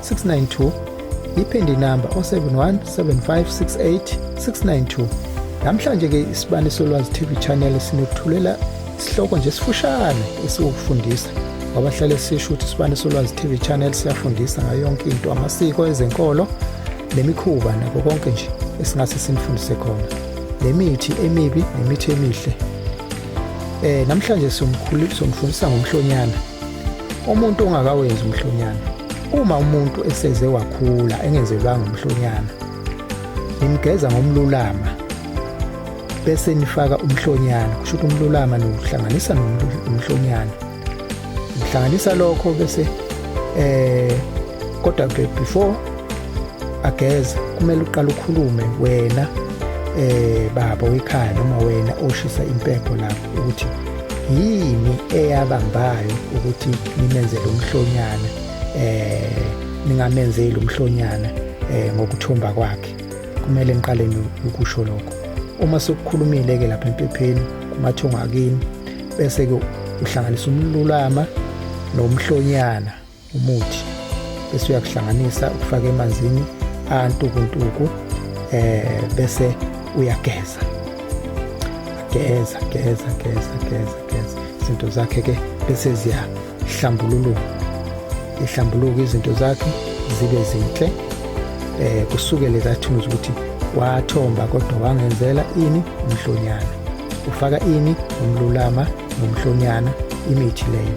692 yiphindi inamba o-71 7568 692 namhlanje-ke isibani solwazi tv channel sinokuthulela isihloko nje sifushane esiwukufundisa ngoba hlale sisho ukuthi isibani solwazi tv channel siyafundisa ngayo yonke into amasiko ezenkolo nemikhuba nako konke nje esingase sinifundise khona nemithi emibi nemithi emihle eh namhlanje somkhulu somfundisa ngomhlonyana umuntu ongakawenzi umhlonyana uma umuntu eseze wakhula engenzelwanga umhlonyana nimgeza ngomlulama bese nifaka umhlonyana kusho ukuthi umlulama niwuhlanganisa nomhlonyana ngihlanganisa lokho bese eh kodwa ke before ageze kumele uqale ukhulume wena eh baba wekhaya noma wena oshisa impepho lapho ukuthi yini eyabambayo ukuthi nimenzele umhlonyana eh ningamenzeli umhlonyana eh ngokuthomba kwakhe kumele niqale ukusho lokho uma sokukhulumile ke lapha empepheni kumathunga kini bese ke uhlanganisa umlulama nomhlonyana umuthi bese uyakuhlanganisa ukufake emanzini antukuntuku eh bese uyageza geza geza geza geza geza izinto zakhe ke bese ziyahlambululuka ihlambuluka izinto zakhe zibe zinhle eh kusukele kathunzi ukuthi wathomba kodwa wangenzela ini umhlonyana ufaka ini umlulama nomhlonyana imithi leyo